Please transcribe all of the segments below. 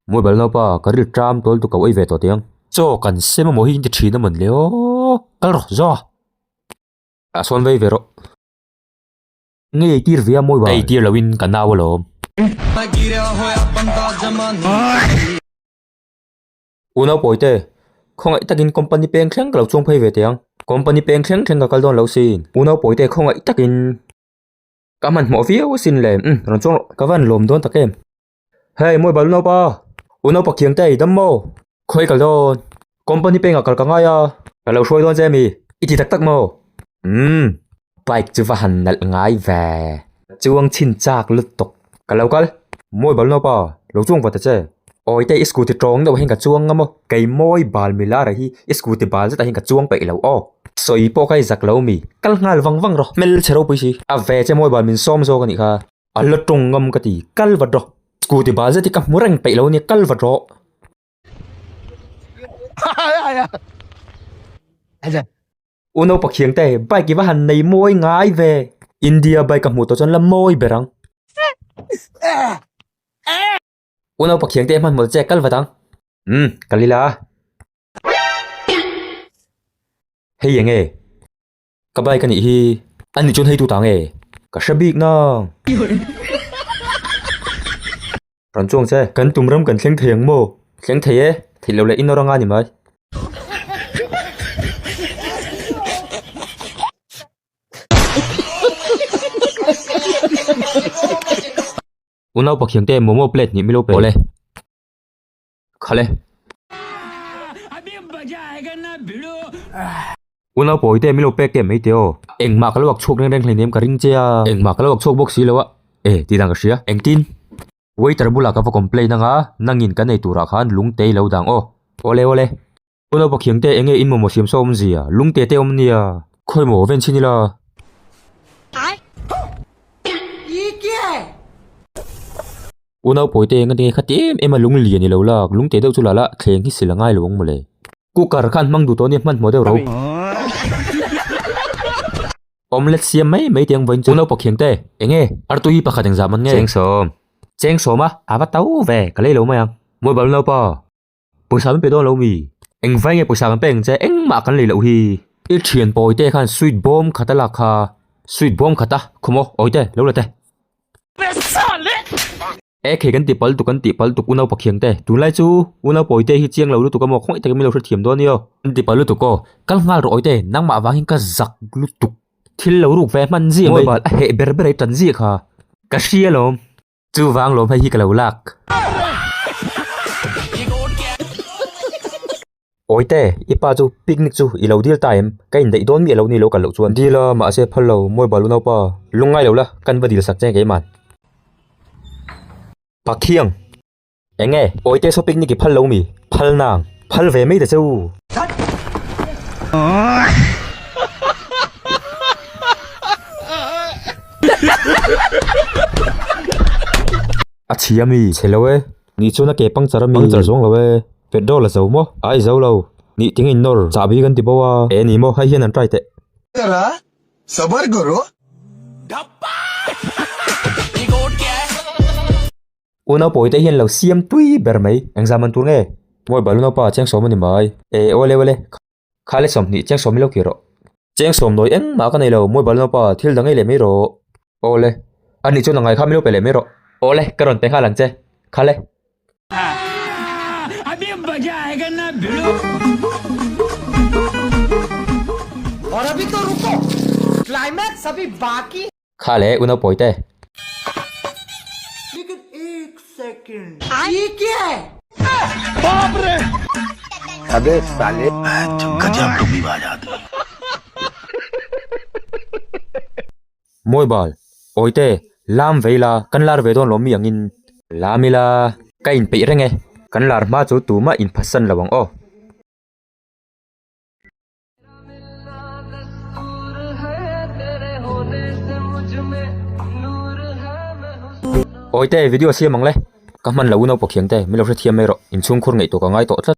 Mawi bal nau pa ka rilh ṭam tual tu ka uai ve tawh tiang. Chaw kan se mamawh hi in ti ṭhin a man leh aw kal rawh zua. A sawn vei ve rawh. Ngei ei tir ve a mawi bal. Ei tir lo in ka nau alawm. U Naupawi te, khawngaih takin company peng thleng ka lo chuang phei ve teh ang. Company peng thleng thleng ka kal dawn lo si. U Naupawi te, khawngaih takin. Ka hmanhmawh viau a sin le. Umm, rawn chuang rawh. Ka van lawm dawn tak em. Hei, mawi balu naupa. U Naupa kiang te, i dam maw? Khawi kal dawn. Company pengah kal ka ngai a. Ka lo hruai dawn che mi. I ti tak tak maw? Umm. Bike chu va han nalh ngai ve. Chuang chhin chak lut tawk. Ka lo kal. Mawi bal nau pa, lo chuang va ta che. Awite i scooty tawng deuh ahin ka chuang ngam aw. Kei mawi bal mi lar ahi i scooty bal zet ahin ka chuang peih lo aw. Sawi pawh ka i zak lo mi. Kal nghal vang vang rawh. Hmel che ropui si. A ve che mawi bal min sawm zawk anih kha. A la tawng ngam ka ti. Kal va draw. Scooty bal zet hi ka hmu reng peih lo nia, kal va draw. Uno pakhiang te bike i va han nei mawi ngai ve India bike ka hmuh tawh chuan la mawi ber ang Uno pakhiang te hmanhmawlh che kal vat ang umm kal ila hei eng e. Ka bike a nih hi. An nih chuan hei tu ta nge? Ka hre bik nang. Rawn chuang che. Kan tum ram kan thleng thei ang maw? Thleng thei e. Theih loh leh in orang a ni mai. Unau Pathian te momo plate nih milo pe awle. kha le. Unau pawi te milo pek te mai te aw. Engmah ka lo ak chhuak reng reng hleinem ka ring che a. Engmah ka lo ak chhuak bawk si lo a. E, tih dan ka hria. Engtin? Waiter bulah ka va complain anga, nangin ka nei turah khan lungte i lo dang aw. Awle awle. U Naupa Khiangte, enge in mawmawh siam sawm zia? Lung te te awm nia. Khawi maw, ven chhin ila. U Naupawitea enga tinge kha têm ema lung lian i lo lak, lung te deuh chu lala thleng hi sil a ngai lo ang mawle. Cooker kha an hmang duh tawh nia, hman hmawh deuh ro. Omelette siam mai mai tiang vawiin chu. U Naupa Khiangte, enge artu hi pakhat engzah man nge? Cheng sawm. Cheng sawma, a va to ve, ka lei lo mai ang. Mawlh balh u Naupa. Pawisa min pe dawn lo mi? Eng vai nge pawisa kan pek ang che? Engmah kan lei loh hi. I thian pawi te khan sweet bomb khat a lak kha. Sweet bomb khat a, khaw maw? Awi te, lo la te. Pesa leh! E khei kan ti pal tuk, kan ti pal tuk u naupa khiang te. Tunlai chu u nau pawi te hi chiang lo lutuk a maw? Khaw ngai takin min lo hrethiam dawn io. Kan ti pal lutuk aw. Kal nghal rawh awi te, nangmah avangin ka zak lutuk. Thil lo ruk ve hman zia mai. Mobile a heh ber ber a i tan zia kha. Ka hria lawm. Chu vang lo hmai hi ka lo lak. Awite, i pa chu picnic chu i lo deal ta em? Ka indaih dawn miah lo ni lo kal loh chuan. Deal a, mahse phal lo, mawi balu naupa. Lungngai lo la, kan va deal sak che ang keimah. Pathiang. Eng nge? Awite saw picnic i phal lo mi? Phal nang. Phal ve mai ta che u. A chhi a mi? Chhe lo e. Ni chuan a ke puncture a mi? Puncture zawng lo e. Petrol a zo maw? Ai zo lo. Ni ting a inawr. Chahbi kan ti bo a. E ni maw? Hei hian an try teh. Zara sabar karo. U naupawi te hian lo siam tui ber mai. Exam an tur nge? Mawi balu naupa cheng sawm a ni mai. E, aw le aw le. Khale sawm hnih, cheng sawm i lo kir rawh. Cheng sawm nawi engmah ka nei lo. Mawi balu naupa, thil da ngei leh mai rawh. Aw le. A ni chuan a ngai kha mi lo pe leh mai rawh. Aw le, ka rawn pe nghal ang che. Khale. Kha leh u naupawi te. Mawi bal. Awi te. Lam vei la, kan lar ve dawn lo mi angin. Lam ila, ka in peih reng e. Kan lar hma chu tumah in phasan lo ang aw. Awite video a siam ang le ka hman lo u naupang thiam te milo hrethiam mai rawh inchhungkhur ngeih tawh ka ngai tawh tlat.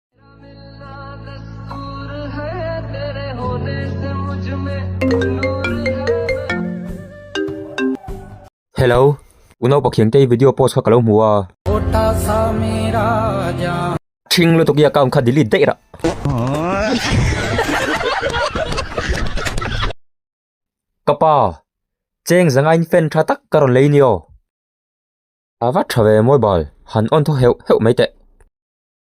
Hello uno pathian kei video post kha ka lo hmu a thing lutuk i account kha delete daih rah ka pa cheng zanga in fan tha tak ka rawn lei ni aw ava tha ve mobile han on thaw heuh heuh mai teh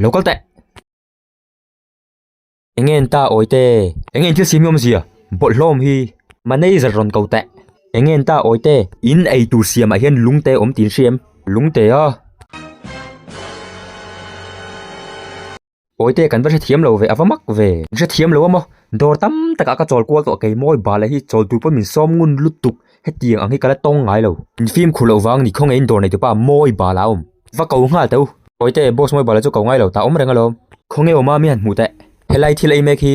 Lo kal teh! Enge an ta awi te? Enge in thil simi awm zia? Bawlh hlawm hi! Manager rawn ko teh! Enge an ta awi te? In ei tur siamah hian lungte awm tiin hriam. Lungtea! Awi te kan va hrethiam lo ve, a va mak ve. Hrethiam lo a maw? Dawr tam takah ka chawl kual tawh kei maw? Bala hi chawl tur pawh min sawm ngun lutuk. hetiang ang hi ka la tawng ngai lo in fim khur loh vang ni khawnge in dawr nei tupa mawi bala awm va ko nghal teh u sawi teh boss mawi bala chu ko ngai lo tah awm reng alawm khawnge awm a mi han hmuh teh helai thil ei mek hi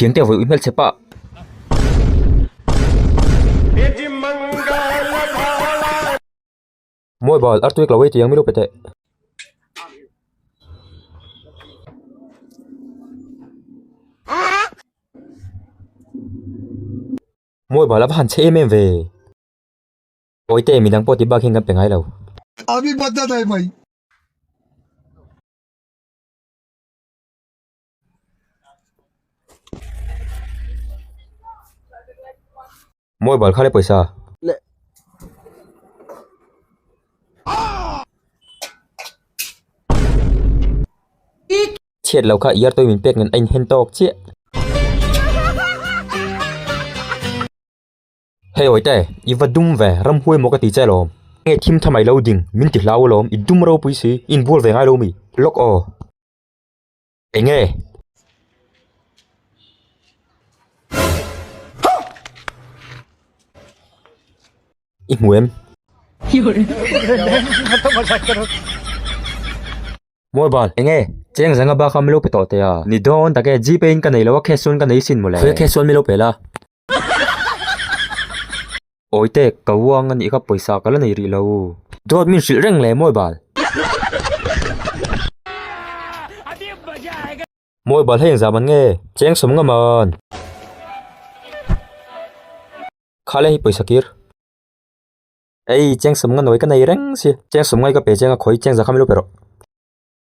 Thiante vawi ui hmel che pah. Mawi bal ar tuik lo ei tiang mi lo pe teh. Mawi bal a va han che em em ve. Mawi te midang pawh ti bak hian kan pe ngai lo. Abi bat na dai mai. Mobile kha le pawisa le chhiat lo kha yar toy min pek nen a in hen tawk chiah Hei awite i va dum ve ram huai maw ka ti che lawm nge thim tha mai lo ding min ti hlau alawm i dum ropui si in bual ve ngai lo mi lawk aw. Enge? I hmu em? Mobile, enge? Cheng zanga bakah milo pe tawh teh a, ni dawn tak e, GPay in ka nei lo a, cash chuan ka nei isin maw le? Khawia cash chuan milo pe la. Awiteek, ka vuang anih kha pawisa ka la nei rih lo u. Dawt min hrilh reng le Mawibal. Mawibal hei engzah man nge? Cheng sawm ngam an. Kha le hi pawisa kir. Ei, cheng sawm nga nawi ka nei reng si. Cheng sawm ngai ka pe cheng a khawi cheng za kha min lo pe rawh.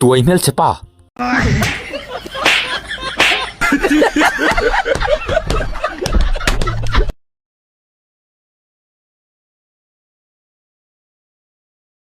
Tuai hmelchhe pa.